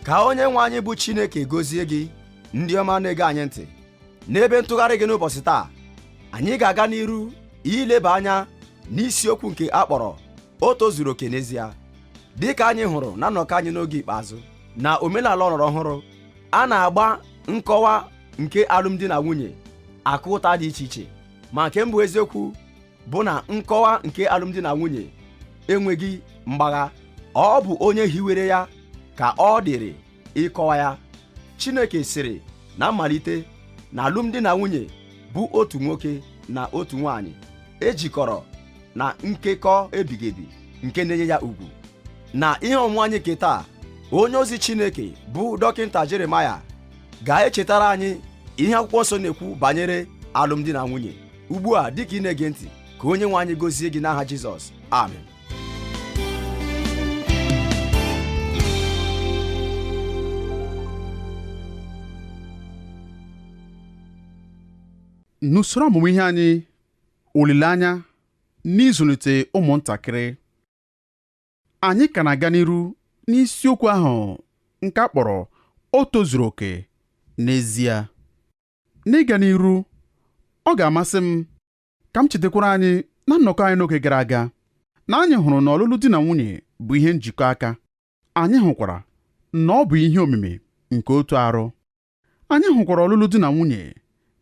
ka onye nwe anyị bụ chineke gozie gị ndị ọma na-ege anyị ntị n'ebe ntụgharị gị n'ụbọchị taa anyị ga-aga n'iru ileba anya n'isiokwu nke a kpọrọ o tozuru oke n'ezie dị ka anyị hụrụ na nnọkọ anyị n'oge ikpeazụ na omenala ọlọrọ ọhụrụ a na-agba nkọwa nke alụmdi na nwunye akụ ụta dị iche iche ma nke mbụ eziokwu bụ na nkọwa nke alụmdi na nwunye enweghị mgbagha ọ bụ onye hiwere ya ka ọ dịrị ịkọwa ya Chineke sịrị na mmalite na alụmdi na nwunye bụ otu nwoke na otu nwanyị ejikọrọ na nkekọ ebighị ebi nke na-enye ya ugwu na ihe ọmụmụ anyị nke taa onye ozi Chineke bụ dọkịnta Jeremaya ga-echetara anyị ihe akwụkwọ nsọ na-ekwu banyere alụmdi na nwunye ugbu a dịka ị na-ege ntị ka onye nwe anyị gozie gị n'aha Jizọs amen n'usoro ọmụmụ ihe anyị olileanya n'ịzụlite ụmụntakịrị anyị ka na-aga n'iru n'isiokwu ahụ nke a kpọrọ o tozuru oke n'ezie N'ịga n'iru, ọ ga-amasị m ka m chetakwara anyị na nnọkọ anyị n'oge gara aga na anyị hụrụ na ọlụlụ di na nwunye bụ ihe njikọ aka anyị hụkwara na ọ bụ ihe omimi nke otu arụ anyị hụkwara ọlụlụ di na nwunye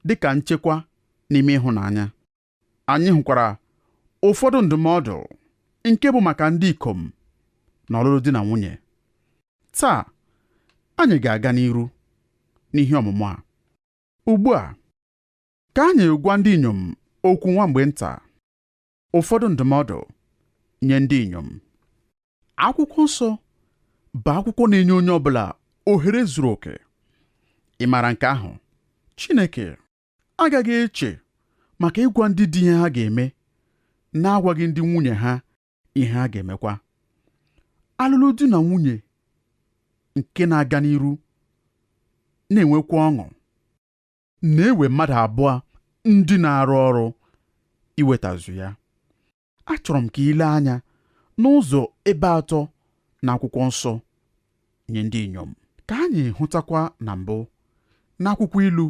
dị ka nchekwa n'ime ịhụnanya Anyị hụkwara ụfọdụ ndụmọdụ nke bụ maka ndị ikom na ọlụlụ di na nwunye. Taa, anyị ga-aga n'iru n'ihe ọmụmụ a. Ugbu a, ka anyị gwa ndị inyom okwu nwa mgbe nta, ụfọdụ ndụmọdụ nye ndị inyom. Akwụkwọ nsọ bụ akwụkwọ na-enye onye ọbụla ohere zuru oke. Ị maara nke ahụ? Chineke agaghị eche maka ịgwa ndị di ihe ha ga-eme na-agwaghị ndị nwunye ha ihe ha ga-emekwa ọlụlụ di na nwunye nke na-aga n'iru na-enwekwa ọṅụ na-ewe mmadụ abụọ ndị na-arụ ọrụ iwetazu ya achọrọ m ka i lee anya n'ụzọ ebe atọ n'akwụkwọ nsọ nye ndị inyom ka anyị hụtakwa na mbụ n'akwụkwọ ilu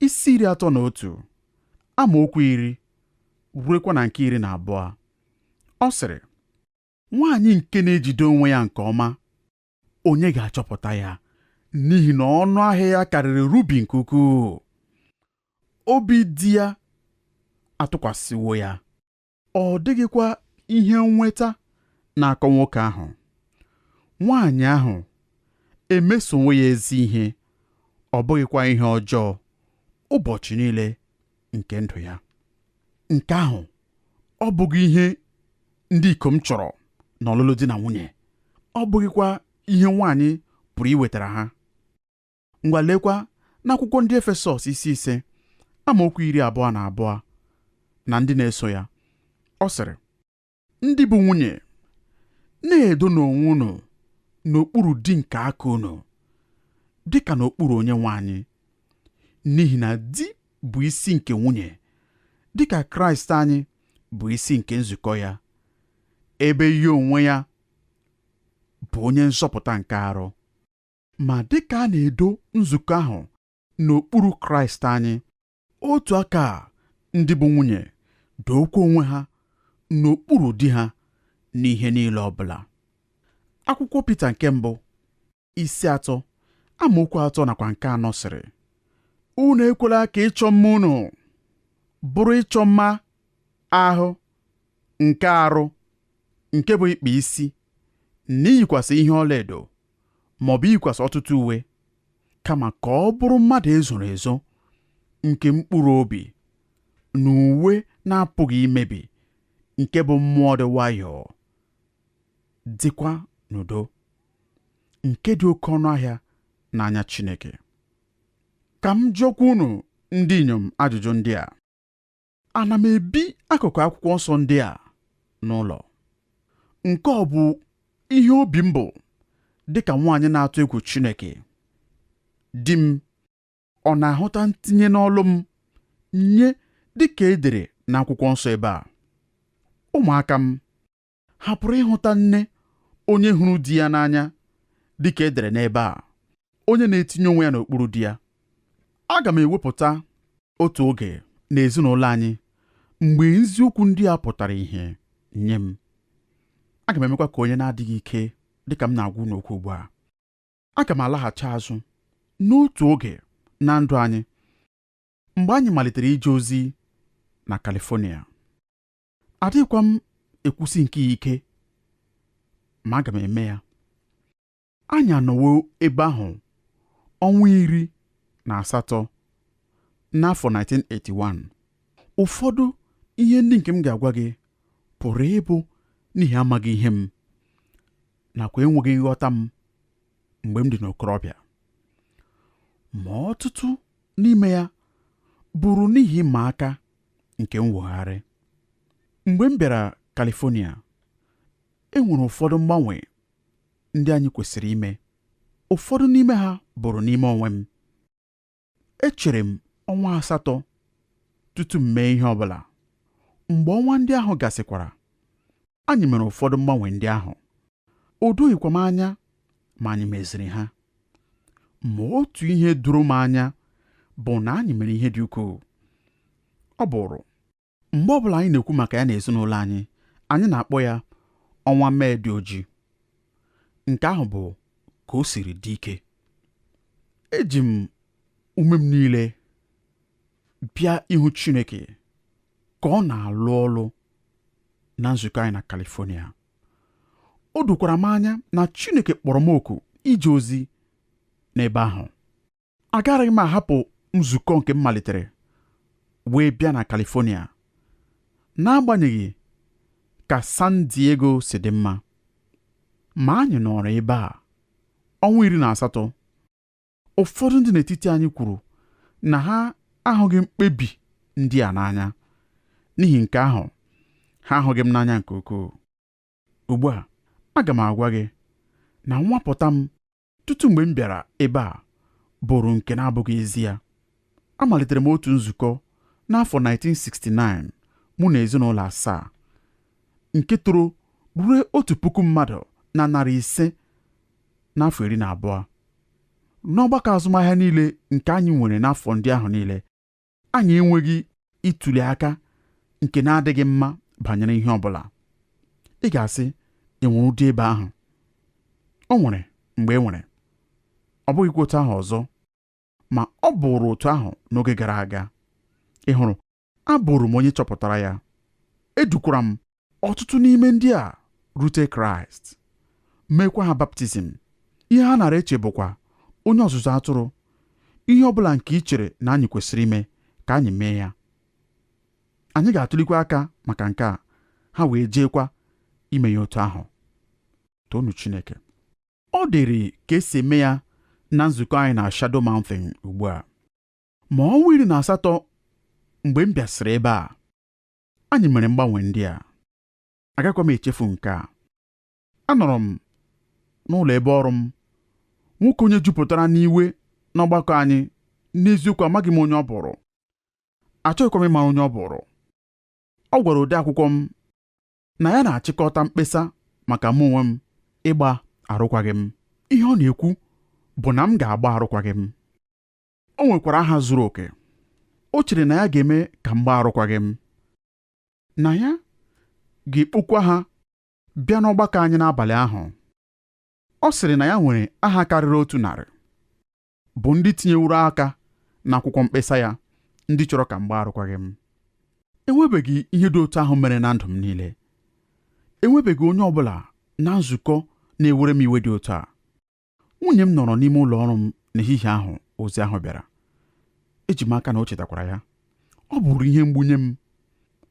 isi iri atọ na otu amaokwu iri ruekwa na nke iri na abụọ ọ sịrị nwaanyị nke na-ejide onwe ya nke ọma onye ga-achọpụta ya n'ihi na ọnụ ahịa ya karịrị rubi nke ukwuu obi di ya atụkwasịwo ya ọ dịghịkwa ihe nnweta na-akọ nwoke ahụ nwaanyị ahụ emesowo ya ezi ihe ọ bụghịkwa ihe ọjọọ ụbọchị niile nke ndụ ya nke ahụ ọ bụghị ihe ndị ikom chọrọ n'ọlụlụ di na nwunye ọ bụghịkwa ihe nwaanyị pụrụ iwetara ha ngwa leekwa n'akwụkwọ ndị efesọs isi ise amaokwu iri abụọ na abụọ na ndị na-eso ya ọ sịrị ndị bụ nwunye na-edonụ onwe unu n'okpuru di nke aka unu dị ka n'okpuru onye nwe anyị n'ihi na di bụ isi nke nwunye dị ka kraịst anyị bụ isi nke nzukọ ya ebe ya onwe ya bụ onye nzọpụta nke arụ ma dị ka a na-edo nzukọ ahụ n'okpuru kraịst anyị otu aka a ndị bụ nwunye dookwa onwe ha n'okpuru di ha n'ihe niile ọ bụla akwụkwọ Pita nke mbụ isi atọ amaokwu atọ nakwa nke anọ sịrị unu ekwela ka ịchọ mma unu bụrụ ịchọ mma ahụ nke arụ nke bụ ịkpa isi na iyikwasị ihe ọlaedo maọbụ iyikwasị ọtụtụ uwe kama ka ọ bụrụ mmadụ e zoro ezo nke mkpụrụ obi na uwe na-apụghị imebi nke bụ mmụọ dị nwayọọ dịkwa n'udo nke dị oke ọnụ ahịa n'anya Chineke ka m jụọkwa unu ndị inyom ajụjụ ndị a Ana m ebi akụkụ akwụkwọ nsọ ndị a n'ụlọ. Nke ọ bụ ihe obi m bụ dị ka nwaanyị na-atụ egwu Chineke. Di m ọ na-ahụta ntinye n'ọlụ m nye dị ka e dere n'akwụkwọ nsọ ebe a? Ụmụaka m ha pụrụ ịhụta nne onye hụrụ di ya n'anya dị ka e dere n'ebe a onye na-etinye onwe ya n'okpuru di ya aga m ewepụta otu oge n'ezinụlọ anyị mgbe eziokwu ndị a pụtara ihe nye m aga m emekwa ka onye na-adịghị ike dị ka m na-agwa unu okwu ugbu a aga m alaghachi azụ n'otu oge na ndụ anyị mgbe anyị malitere ije ozi na California adịghịkwa m ekwusi nke ya ike ma aga m eme ya anyị anọwo ebe ahụ ọnwa iri na asatọ n'afọ 1981 ụfọdụ ihe ndị nke m ga-agwa gị pụrụ ịbụ n'ihi amaghị ihe m nakwa enweghị nghọta m mgbe m dị n'okorobịa ma ọtụtụ n'ime ya bụrụ n'ihi ịma aka nke mwogharị mgbe m bịara California e nwere ụfọdụ mgbanwe ndị anyị kwesịrị ime ụfọdụ n'ime ha bụrụ n'ime onwe m echere m ọnwa asatọ tutu m mee ihe ọ bụla mgbe ọnwa ndị ahụ gasịkwara anyị mere ụfọdụ mgbanwe ndị ahụ o doghịkwa m anya ma anyị meziri ha ma otu ihe doro m anya bụ na anyị mere ihe dị ukwuu ọ bụrụ mgbe ọ bụla anyị na-ekwu maka ya n'ezinụlọ anyị anyị na-akpọ ya ọnwa mee dị ojii nke ahụ bụ ka o siri dị ike eji m ume m niile bịa ịhụ Chineke ka ọ na-alụ ọlụ na nzukọ anyị na California o dokwara m anya na Chineke kpọrọ m oku ije ozi n'ebe ahụ agaraghị m ahapụ nzukọ nke m malitere wee bịa na California n'agbanyeghị ka San Diego si dị mma ma anyị nọrọ ebe a ọnwa iri na asatọ ụfọdụ ndị n'etiti anyị kwuru na ha ahụghị mkpebi ndị a n'anya n'ihi nke ahụ ha ahụghị m n'anya nke ukwuu ugbu a aga m agwa gị na nwapụta m tutu mgbe m bịara ebe a bụrụ nke na-abụghị ezi ya amalitere m otu nzukọ n'afọ 1969 mụ na ezinụlọ asaa nke toro ruo otu puku mmadụ na narị ise n'afọ iri na abụọ n'ọgbakọ azụmahịa niile nke anyị nwere n'afọ ndị ahụ niile anyị enweghị ịtụli aka nke na-adịghị mma banyere ihe ọ bụla ị ga-asị enwere ụdị ebe ahụ o nwere mgbe e nwere ọ bụghịkwa otu ahụ ọzọ ma ọ bụrụ otu ahụ n'oge gara aga ị hụrụ abụrụ m onye chọpụtara ya edukwara m ọtụtụ n'ime ndị a rute kraịst meekwa ha baptizim ihe ha nara eche bụkwa onye ọzụzụ atụrụ ihe ọ bụla nke ị chere na anyị kwesịrị ime ka anyị mee ya anyị ga-atụlikwa aka maka nke a ha wee jeekwa ime ya otu ahụ toonu Chineke ọ dịrị ka esi eme ya na nzukọ anyị na Shadow Mountain ugbu a ma ọnwa iri na asatọ mgbe m bịasịrị ebe a anyị mere mgbanwe ndị a agakwa m echefu nke a anọrọ m n'ụlọ ebe ọrụ m nwoke onye jupụtara n'iwe n'ọgbakọ anyị n'eziokwu amaghị m onye ọ bụụrụ achọghịkwa m ịmara onye ọ bụụrụ ọ gwara ode akwụkwọ m na ya na-achịkọta mkpesa maka mụ onwe m ịgba arụkwaghị m ihe ọ na-ekwu bụ na m ga-agba arụkwaghị m o nwekwara aha zuru oke o chere na ya ga-eme ka m gbaa arụkwaghị m na ya ga-ekpokwa ha bịa n'ọgbakọ anyị n'abalị ahụ ọ sịrị na ya nwere aha karịrị otu narị bụ ndị tinyeworo aka n'akwụkwọ mkpesa ya ndị chọrọ ka m gbaa arụkwaghị m enwebeghị ihe dị otu ahụ mere na ndụ m niile enwebeghị onye ọ bụla na nzukọ na-ewere m iwe dị otu a nwunye m nọrọ n'ime ụlọ ọrụ m n'ehihie ahụ ozi ahụ bịara eji m aka na o chetakwara ya ọ bụụrụ ihe mgbu nye m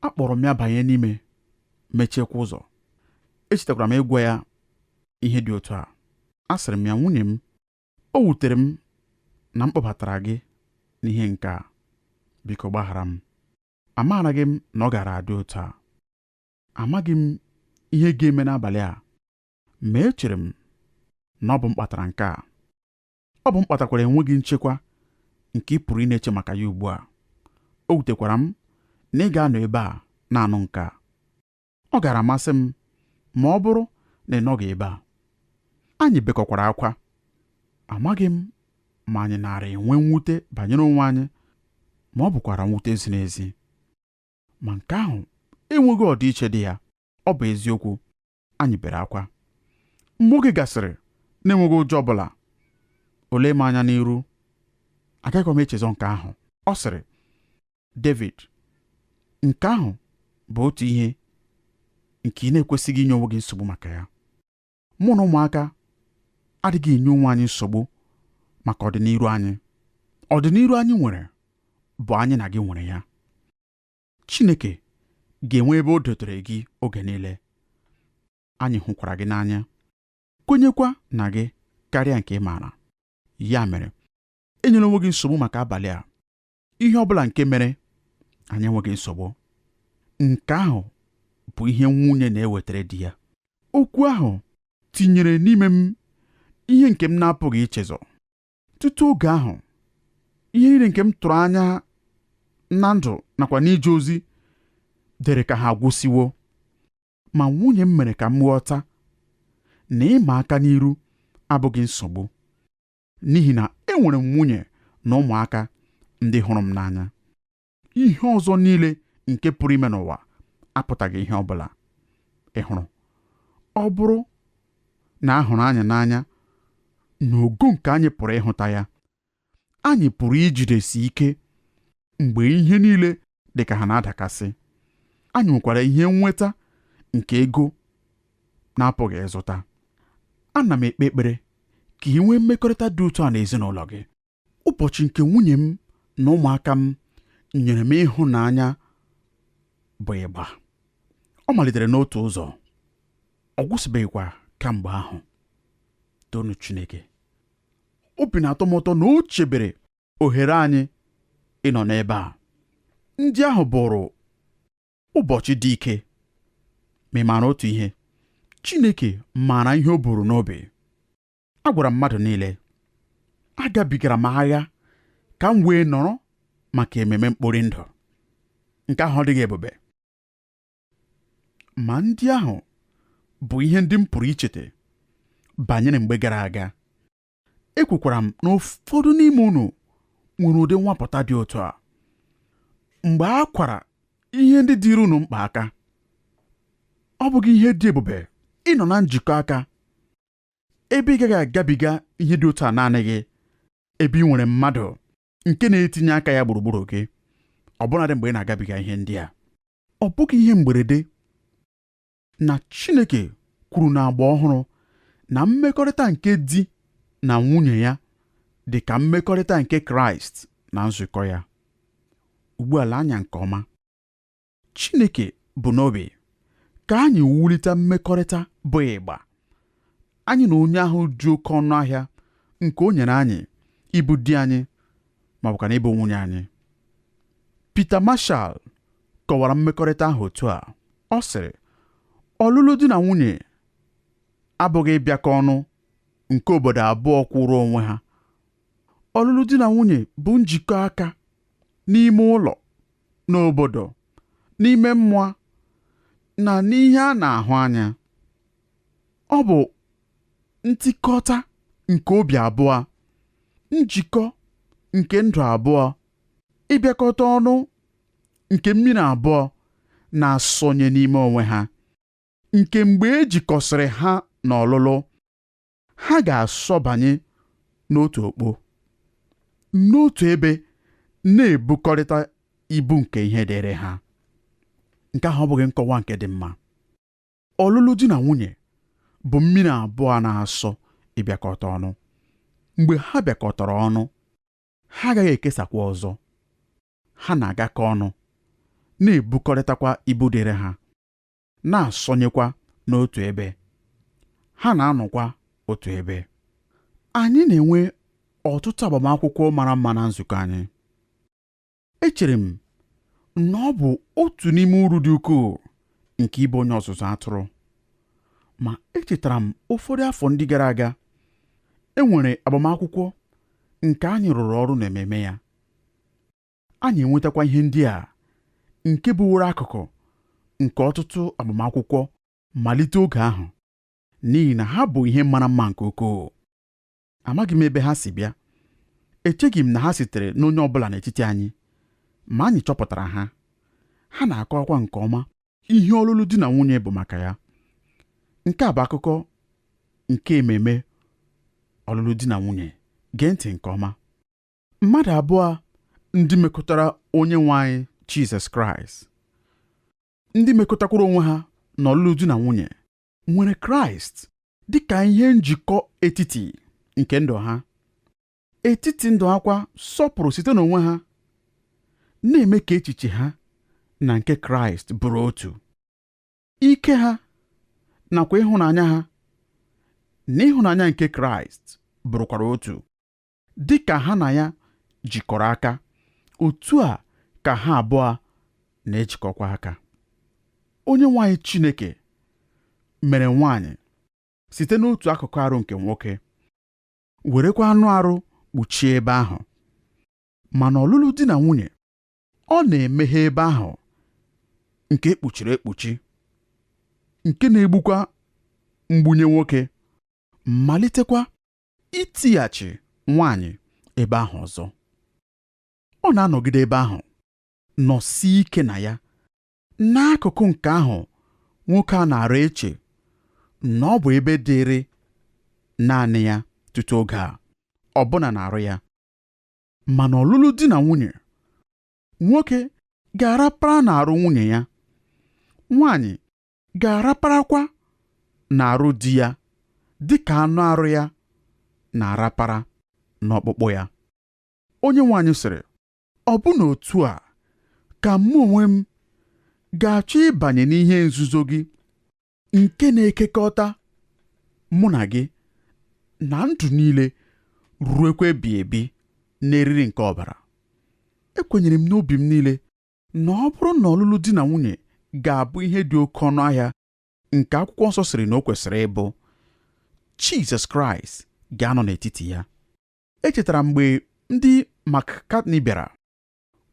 akpọrọ m ya banye n'ime mechiekwa ụzọ echetakwara m ịgwa ya ihe dị otu a asịrị m ya nwunye m o wutere m na m kpọbatara gị n'ihe nke a biko gbaghara m amaaraghị m na ọ gaara adị otu a amaghị m ihe ga-eme n'abalị a ma echere m na ọ bụ m kpatara nke a ọ bụ m kpatakwara enweghị nchekwa nke ị pụrụ ịna-eche maka ya ugbu a o wutekwara m na ị ga-anọ ebe a na-anụ nke a ọ gaara amasị m ma ọ bụrụ na ị nọghị ebe a anyị bekọkwara akwa amaghị m ma anyị naara enwe mwute banyere onwe anyị ma ọ bụkwara mwute ziri ezi ma nke ahụ enweghị ọdịiche dị ya ọ bụ eziokwu anyị bere akwa mgbe oge gasịrị na-enweghị ụjọ ọ bụla o lee m anya n'iru agaghị m echezọ nke ahụ ọ sịrị David nke ahụ bụ otu ihe nke ị na-ekwesịghị inye onwe gị nsogbu maka ya mụ na ụmụaka adịghị enye onwe anyị nsogbu maka ọdịniru anyị ọdịniru anyị nwere bụ anyị na gị nwere ya Chineke ga-enwe ebe o dotere gị oge niile. Anyị hụkwara gị n'anya, kwenyekwa na gị karịa nke ị maara. Ya mere, enyela onwe gị nsogbu maka abalị a. Ihe ọ bụla nke mere, anyị enweghị nsogbu. Nke ahụ bụ ihe nwunye na-ewetara di ya. Okwu ahụ tinyere n'ime m ihe nke m na-apụghị ichezọ. tutu oge ahụ ihe niile nke m tụrụ anya na ndụ nakwa n'ije ozi dịrị ka ha agwụsịwo ma nwunye m mere ka m ghọta na ịma aka n'iru abụghị nsogbu n'ihi na enwere m nwunye na ụmụaka ndị hụrụ m n'anya ihe ọzọ niile nke pụrụ ime n'ụwa apụtaghị ihe ọ bụla ị hụrụ ọ bụrụ na a hụrụ anyị n'anya n'ogo nke anyị pụrụ ịhụta ya anyị pụrụ ijidesi ike mgbe ihe niile dị ka ha na-adakasị anyị nwekwara ihe nnweta nke ego na-apụghị ịzụta ana m ekpe ekpere ka i nwee mmekọrịta dị otu a n'ezinụlọ gị ụbọchị nke nwunye m na ụmụaka m nyere m ịhụnanya bụ ịgba ọ malitere n'otu ụzọ ọ gwụsịbeghịkwa kamgbe ahụ toonu Chineke obi na-atọ m ụtọ na o chebere ohere anyị ịnọ n'ebe a ndị ahụ bụụrụ ụbọchị dị ike ma ị maara otu ihe Chineke maara ihe o buru n'obi agwara m mmadụ niile agabigara m agha ka m wee nọrọ maka ememe mkpori ndụ nke ahụ ọ dịghị ebube ma ndị ahụ bụ ihe ndị m pụrụ icheta banyere mgbe gara aga ekwekwara m na ụfọdụ n'ime unu nwere ụdị nwapụta dị otu a mgbe a kwara ihe ndị dịịrị unu mkpa aka ọ bụghị ihe dị ebube ịnọ na njikọ aka ebe ị gaghị agabiga ihe dị otu a naanị gị ebe i nwere mmadụ nke na-etinye aka ya gburugburu gị ọbụnadị mgbe ị na-agabiga ihe ndị a ọ bụghị ihe mgberede na Chineke kwuru n'agba ọhụrụ na mmekọrịta nke di na nwunye ya dị ka mmekọrịta nke Kraịst na nzukọ ya ugbu a lee anya nke ọma Chineke bu n'obi ka anyị wulite mmekọrịta bụ ịgba anyị na onye ahụ dị oke ọnụ ahịa nke o nyere anyị ịbụ di anyị ma ọ bụkwanụ ịbụ nwunye anyị Peter Marshall kọwara mmekọrịta ahụ otu a ọ sịrị ọlụlụ di na nwunye abụghị ịbịakọ ọnụ nke obodo abụọ kwụrụ onwe ha ọlụlụ di na nwunye bụ njikọ aka n'ime ụlọ n'obodo n'ime mmụọ na n'ihe a na-ahụ anya ọ bụ ntikọta nke obi abụọ njikọ nke ndụ abụọ ịbịakọta ọnụ nke mmiri abụọ na-asọnye n'ime onwe ha nke mgbe e jikọsịrị ha n'ọlụlụ ha ga-asọbanye n'otu okpo n'otu ebe na-ebukọrịta ibu nke ihe dịịrị ha nke ahụ ọ bụghị nkọwa nke dị mma ọlụlụ di na nwunye bụ mmiri abụọ na-asọ ịbịakọta ọnụ mgbe ha bịakọtara ọnụ ha agaghị ekesakwa ọzọ ha na-agakọ ọnụ na-ebukọrịtakwa ibu dịịrị ha na-asọnyekwa n'otu ebe ha na-anọkwa otu ebe anyị na-enwe ọtụtụ agbamakwụkwọ mara mma na nzukọ anyị echere m na ọ bụ otu n'ime uru dị ukwuu nke ịbụ onye ọzụzụ atụrụ ma echetara m ụfọdụ afọ ndị gara aga e nwere agbamakwụkwọ nke anyị rụrụ ọrụ n'ememe ya anyị enwetakwa ihe ndị a nke bụworo akụkụ nke ọtụtụ agbamakwụkwọ malite oge ahụ n'ihi na ha bụ ihe mara mma nke ukwuu amaghị m ebe ha si bịa echeghị m na ha sitere n'onye ọ bụla n'etiti anyị ma anyị chọpụtara ha ha na-akọwakwa nke ọma ihe ọlụlụ di na nwunye bụ maka ya nke a bụ akụkọ nke ememe ọlụlụ di na nwunye gee ntị nke ọma mmadụ abụọ ndị mekọtara onye nwe anyị Jizọs Kraịst ndị mekọtakwara onwe ha n'ọlụlụ di na nwunye nwere Kraịst dị ka ihe njikọ etiti nke ndụ ha etiti ndụ ha kwa sọpụrụ site n'onwe ha na-eme ka echiche ha na nke Kraịst bụrụ otu ike ha nakwa ịhụnanya ha na ịhụnanya nke Kraịst bụrụkwara otu dị ka ha na ya jikọrọ aka otu a ka ha abụọ na-ejikọkwa aka onye nwe anyị Chineke mere nwaanyị site n'otu akụkụ arụ nke nwoke werekwa anụ arụ kpuchie ebe ahụ ma n'ọlụlụ di na nwunye ọ na-emeghe ebe ahụ nke e kpuchiri ekpuchi nke na-egbukwa mgbu nye nwoke malitekwa itighachi nwaanyị ebe ahụ ọzọ. Ọ na-anọgide ebe ahụ nọsie ike na ya. N'akụkụ nke ahụ nwoke a na-ara eche na ọ bụ ebe dịịrị naanị ya tutu oge a, ọbụna n'arụ ya. Ma n'ọlụlụ di na nwunye, nwoke ga-arapara n'arụ nwunye ya, nwaanyị ga-araparakwa n'arụ di ya dị ka anụ arụ ya na-arapara n'ọkpụkpụ ya onye nwaanyị sịrị ọ bụ n'otu a ka mụ onwe m ga-achọ ịbanye n'ihe nzuzo gị nke na-ekekọta mụ na gị na ndụ niile ruekwa ebighị ebi n'eriri nke ọbara ekwenyere m n'obi m niile na ọ bụrụ na ọlụlụ di na nwunye ga-abụ ihe dị oke ọnụ ahịa nke akwụkwọ nsọ sịrị na o kwesịrị ịbụ Jizọs Kraịst ga-anọ n'etiti ya echetara m mgbe ndị McCartney bịara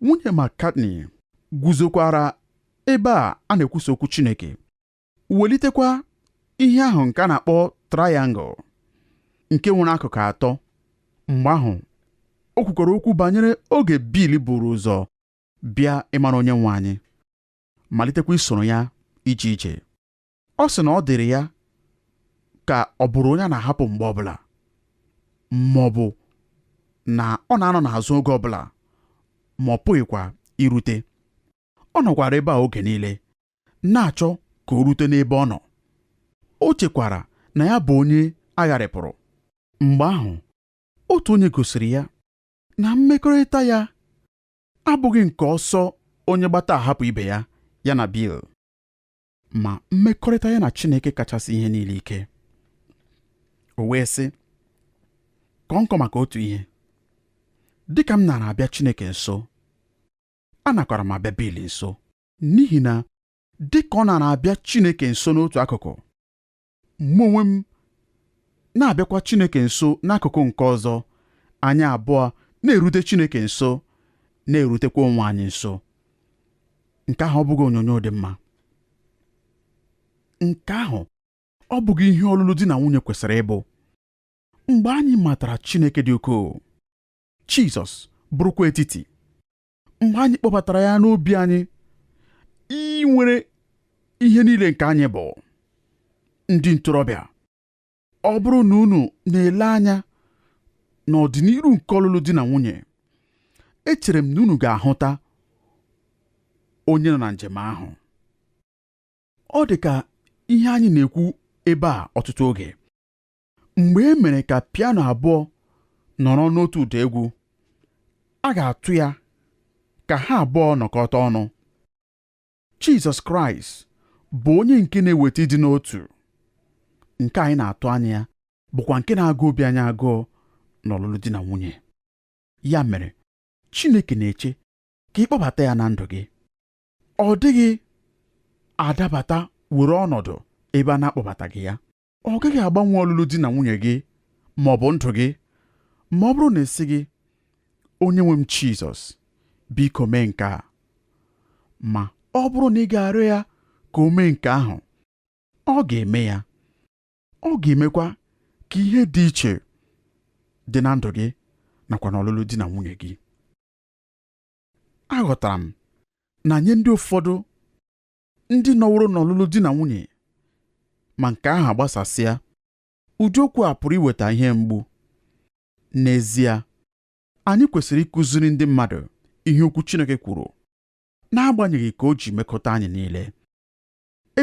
nwunye McCartney guzokwara ebe a a na-ekwusa okwu Chineke welitekwa ihe ahụ nke a na-akpọ triangle nke nwere akụkụ atọ mgbe ahụ o kwukwara okwu banyere oge Bill buru ụzọ bịa ịmara onye nwe anyị malitekwa isoro ya ije ije ọ sị na ọ dịrị ya ka ọ bụrụ onye a na-ahapụ mgbe ọbụla ma ọ bụ na ọ na-anọ n'azụ oge ọbụla ma ọ pụghịkwa irute ọ nọkwara ebe a oge niile na-achọ ka o rute n'ebe ọ nọ o chekwara na ya bụ onye a gharịpụrụ mgbe ahụ otu onye gosiri ya na mmekọrịta ya abụghị nke ọsọ onye gbata ahapụ ibe ya ya na Bill ma mmekọrịta ya na Chineke kachasị ihe niile ike o wee sị kọọ nkọ maka otu ihe dịka m nara abịa Chineke nso anakwara m abịa Bill nso n'ihi na dị ka ọ nara abịa Chineke nso n'otu akụkụ mụ onwe m na-abịakwa Chineke nso n'akụkụ nke ọzọ anyị abụọ na-erute Chineke nso na-erutekwa onwe anyị nso nke ahụ ọ bụghị onyonyo dị mma nke ahụ ọ bụghị ihe ọlụlụ di na nwunye kwesịrị ịbụ mgbe anyị matara Chineke dị ukwuu Jizọs bụrụkwa etiti mgbe anyị kpọbatara ya n'obi anyị inwere ihe niile nke anyị bụ ndị ntorobịa ọ bụrụ na unu na-ele anya n'ọdịniru nke ọlụlụ di na nwunye echere m na unu ga-ahụta onye nọ na njem ahụ ọ dị ka ihe anyị na-ekwu ebe a ọtụtụ oge mgbe e mere ka piano abụọ nọrọ n'otu ụda egwu a ga-atụ ya ka ha abụọ nọkọta ọnụ Jizọs Kraịst bụ onye nke na-eweta ịdị n'otu nke anyị na-atụ anya ya bụkwa nke na-agụ obi anyị agụụ n'ọlụlụ di na nwunye ya mere Chineke na-eche ka ị kpọbata ya na ndụ gị ọ dịghị adabata were ọnọdụ ebe a na-akpọbataghị ya ọ gaghị agbanwe ọlụlụ di na nwunye gị ma ọ bụ ndụ gị ma ọ bụrụ na ị sịghị onye nwe m Jizọs biko mee nke a ma ọ bụrụ na ị ga-arịọ ya ka o mee nke ahụ ọ ga-eme ya ọ ga-emekwa ka ihe dị iche dị na ndụ gị nakwa n'ọlụlụ di na nwunye gị aghọtara m na nye ndị ụfọdụ ndị nọworo n'ọlụlụ di na nwunye ma nke ahụ agbasasịa ụdị okwu a pụrụ iweta ihe mgbu n'ezie anyị kwesịrị ịkụziri ndị mmadụ ihe okwu Chineke kwuru n'agbanyeghị ka o ji mekọta anyị niile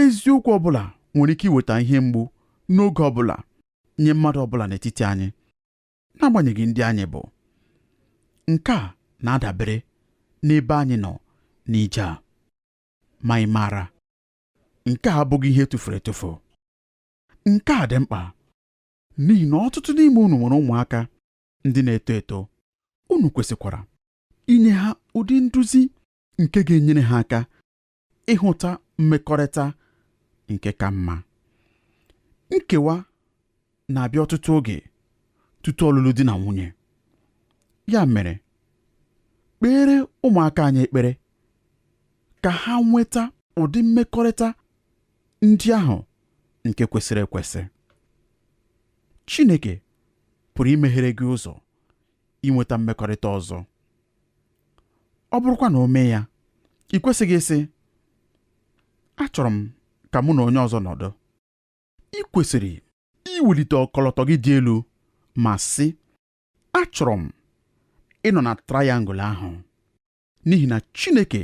eziokwu ọ bụla nwere ike iweta ihe mgbu n'oge ọ bụla nye mmadụ ọ bụla n'etiti anyị n'agbanyeghị ndị anyị bụ nke a na-adabere n'ebe anyị nọ n'ije a ma ị maara nke a abụghị ihe tụfuru etufu nke a dị mkpa n'ihi na ọtụtụ n'ime unu nwere ụmụaka ndị na-eto eto unu kwesịkwara inye ha ụdị nduzi nke ga-enyere ha aka ịhụta mmekọrịta nke ka mma nkewa na-abịa ọtụtụ oge tutu ọlụlụ di na nwunye ya mere kpeere ụmụaka anyị ekpere ka ha nweta ụdị mmekọrịta ndị ahụ nke kwesịrị ekwesị Chineke pụrụ imeghere gị ụzọ inweta mmekọrịta ọzọ ọ bụrụkwa na o mee ya i kwesịghị ịsị achọrọ m ka mụ na onye ọzọ nọdụ i kwesịrị iwelite ọkọlọtọ gị dị elu ma sị achọrọ m ịnọ na trayangụl ahụ n'ihi na Chineke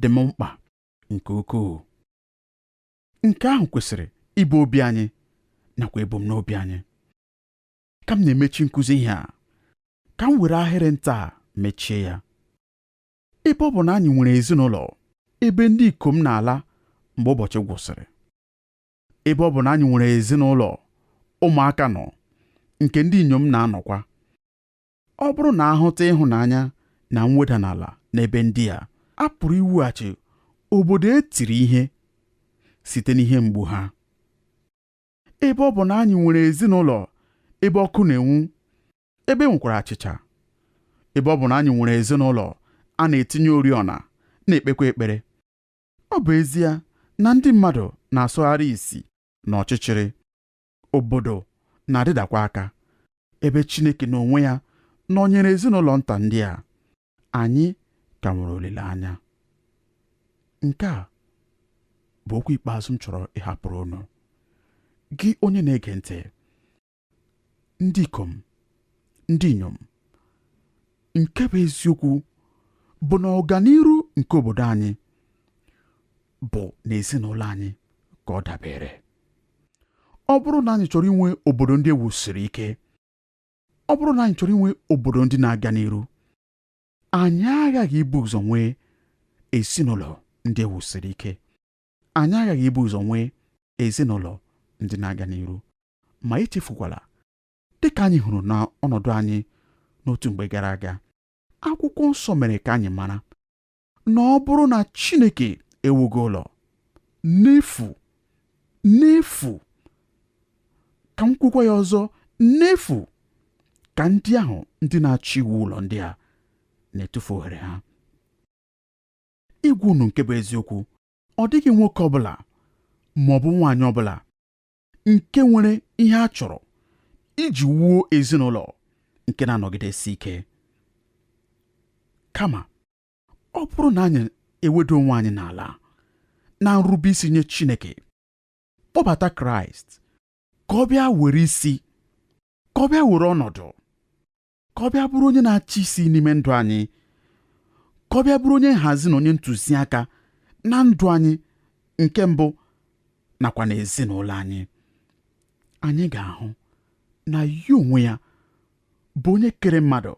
dị m mkpa nke ukwuu nke ahụ kwesịrị ịbụ obi anyị nakwa ebumnobi anyị ka m na-emechi nkụzi ihe a ka m were ahịrị nta a mechie ya ebe ọ bụ na anyị nwere ezinụlọ ebe ndị ikom na-ala mgbe ụbọchị gwụsịrị ebe ọ bụ na anyị nwere ezinụlọ ụmụaka nọ nke ndị inyom na-anọkwa ọ bụrụ na a hụta ịhụnanya na mweda n'ala n'ebe ndị a a pụrụ iwughachi obodo e tiri ihe site n'ihe mgbu ha ebe ọ bụ na anyị nwere ezinụlọ ebe ọkụ na-enwu ebe e nwekwara achịcha ebe ọ bụ na anyị nwere ezinụlọ a na-etinye oriọna na-ekpekwa ekpere Ọ bụ ezie na ndị mmadụ na-asọgharị isi n'ọchịchịrị, obodo na-adịdakwa aka, ebe Chineke n'onwe ya nọnyere ezinụlọ nta ndị a, anyị ka nwere olileanya. Nke a bụ okwu ikpeazụ m chọrọ ịhapụrụ unu. Gị onye na-ege ntị, ndị ikom ndị inyom nke bụ eziokwu bụ na ọganiru nke obodo anyị bụ n'ezinụlọ anyị ka ọ dabere ọ bụrụ na anyị chọrọ inwe obodo ndị e wusiri ike ọ bụrụ na anyị chọrọ inwe obodo ndị na-aga n'iru anyị aghaghị ibu ụzọ nwee ezinụlọ ndị e wusiri ike Anyị aghaghị ibu ụzọ nwee ezinụlọ ndị na-aga n'iru, ma echefukwala, dị ka anyị hụrụ n'ọnọdụ anyị n'otu mgbe gara aga, akwụkwọ nsọ mere ka anyị mara na ọ bụrụ na Chineke ewughị ụlọ n'efu n'efu ka m kwukwa ya ọzọ n'efu ka ndị ahụ ndị na-achọ iwu ụlọ ndị a na-etufu ohere ha ịgwa unu nke bụ eziokwu ọ dịghị nwoke ọbụla ma ọ bụ nwaanyị ọbụla nke nwere ihe a chọrọ iji wuo ezinụlọ nke na-anọgidesi ike kama ọ bụrụ na anyị eweda onwe anyị n'ala na nrube isi nye Chineke kpọbata Kraịst ka ọ bịa were isi ka ọ bịa were ọnọdụ ka ọ bịa bụrụ onye na-achị isi n'ime ndụ anyị ka ọ bịa bụrụ onye nhazi na onye ntụziaka na ndụ anyị nke mbụ nakwa na ezinụlọ anyị anyị ga-ahụ na ya onwe ya bụ onye kere mmadụ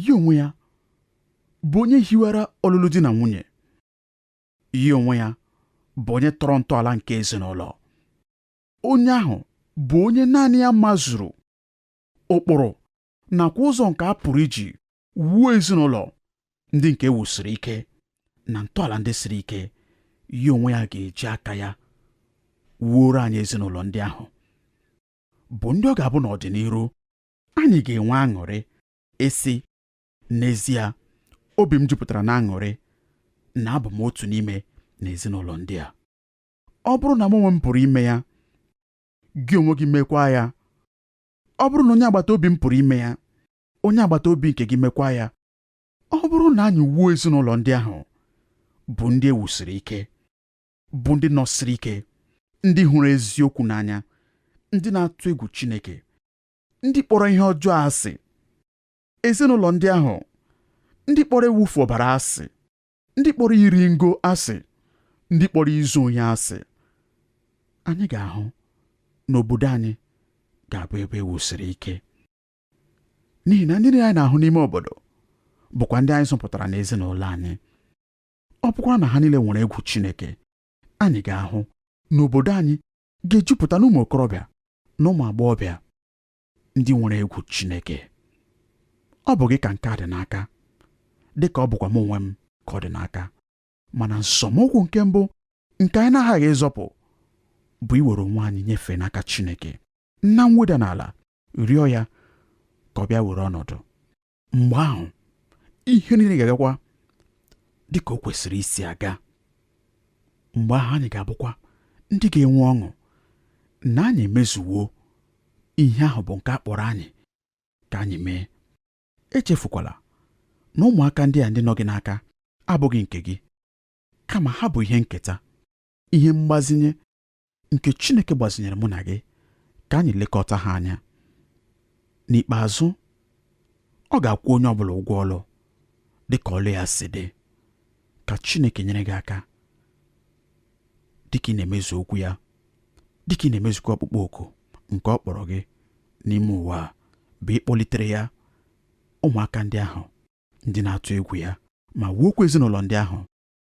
ya onwe ya bụ onye hiwara ọlụlụ di na nwunye ya onwe ya bụ onye tọrọ ntọala nke ezinụlọ onye ahụ bụ onye naanị ya mazuru ụkpụrụ nakwa ụzọ nke a pụrụ iji wuo ezinụlọ ndị nke e wusiri ike na ntọala ndị siri ike ya onwe ya ga-eji aka ya wuoro anyị ezinụlọ ndị ahụ bụ ndị ọ ga-abụ n'ọdịnihu anyị ga-enwe aṅụrị esi n'ezie obi m jupụtara n'aṅụrị na abụ m otu n'ime n'ezinụlọ ndị a ọ bụrụ na m onwe m pụrụ ime ya gị onwe gị mekwa ya ọ bụrụ na onye agbata obi m pụrụ ime ya onye agbata obi nke gị mekwa ya ọ bụrụ na anyị wuo ezinụlọ ndị ahụ bụ ndị e wusiri ike bụ ndị nọsiri ike ndị hụrụ eziokwu n'anya ndị na-atụ egwu Chineke ndị kpọrọ ihe ọjọọ asị ezinụlọ ndị ahụ ndị kpọrọ ịwụfu ọbara asị ndị kpọrọ iri ngo asị ndị kpọrọ izu ohi asị anyị ga-ahụ na obodo anyị ga-abụ ebe e wusiri ike n'ihi na ndị anyị na-ahụ n'ime obodo bụkwa ndị anyị zụpụtara n'ezinụlọ anyị ọ bụkwa na ha niile nwere egwu Chineke anyị ga-ahụ na obodo anyị ga-ejupụta n'ụmụ okorobịa na ụmụ agbọghọbịa ndị nwere egwu Chineke ọ bụ gị ka nke a dị n'aka dị ka ọ bụkwa m onwe m ka ọ dị n'aka mana nzọmụkwụ nke mbụ nke anyị na-aghaghị ịzọpụ bụ iwere onwe anyị nyefee n'aka Chineke na mweda n'ala rịọ ya ka ọ bịa were ọnọdụ mgbe ahụ ihe niile ga-agakwa dị ka o kwesịrị isi aga mgbe ahụ anyị ga-abụkwa ndị ga-enwe ọṅụ na anyị emezuwo ihe ahụ bụ nke a kpọrọ anyị ka anyị mee echefukwala na ụmụaka ndị a ndị nọ gị n'aka abụghị nke gị kama ha bụ ihe nketa ihe mgbazinye nke Chineke gbazinyere mụ na gị ka anyị lekọta ha anya n'ikpeazụ ọ ga-akwụ onye ọbụla ụgwọ ọlụ dị ka ọlụ ya si dị ka Chineke nyere gị aka dịka ị na-emezu okwu ya dịka ị na-emezukwa ọkpụkpọ oku nke ọ kpọrọ gị n'ime ụwa a bụ ịkpọlitere ya ụmụaka ndị ahụ ndị na-atụ egwu ya ma wuokwa ezinụlọ ndị ahụ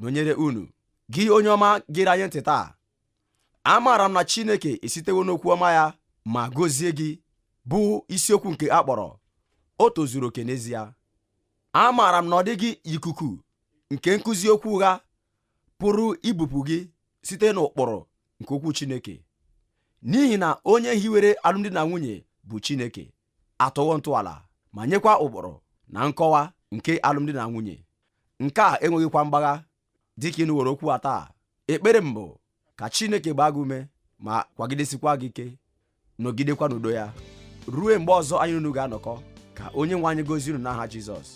nọnyere unu gị onye ọma gere anyị ntị taa amaara m na chineke esitewo n'okwu ọma ya ma gọzie gị bụ isiokwu nke a kpọrọ o tozuru oke n'ezie amaara m na ọ dịghị ikuku nke nkụzi okwu ụgha pụrụ ibupụ gị site n'ụkpụrụ nke okwu chineke n'ihi na onye hiwere alụmdi na nwunye bụ chineke atọwo ntọala ma nyekwa ụkpụrụ na nkọwa nke alụmdi na nwunye nke a enweghịkwa mgbagha dịka ị nụworo okwu a taa ekpere m bụ ka Chineke gbaa gị ume ma kwagidesikwa gị ike nọgidekwa n'udo ya ruo mgbe ọzọ anyị na unu ga-anọkọ ka Onyenwe anyị gọzie unu n'aha Jizọs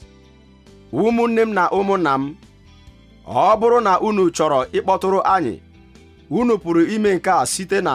ụmụnne m na ụmụnna m ọ bụrụ na unu chọrọ ịkpọtụrụ anyị unu pụrụ ime nke a site na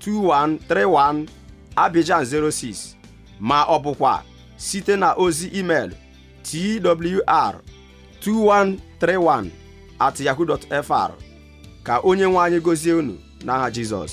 2131 Abidjan 06 ma ọ bụkwa site na ozi email twr 2131 at yahoo fr ka Onyenwe anyị gọzie unu n'aha Jizọs